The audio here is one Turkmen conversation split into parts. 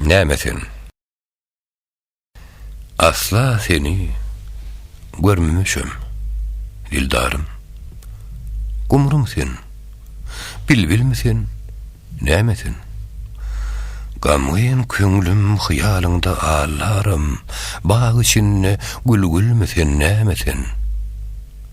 Näme sen? Asla seni görmemişem, dildarym. Gumrum sen, bilbilmi sen, näme sen? Gamgyn köňlüm hyýalyňda allarym, bag içinde gülgülmi sen, näme sen?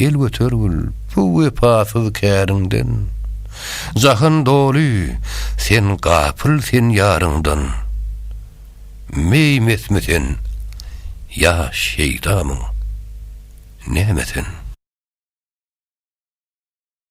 El götergil bu wepasyz käriňden, Jahan doly sen gapyl sen ýaryňdan. Meý-mesmi sen, ýa şeýdamyň, näme sen?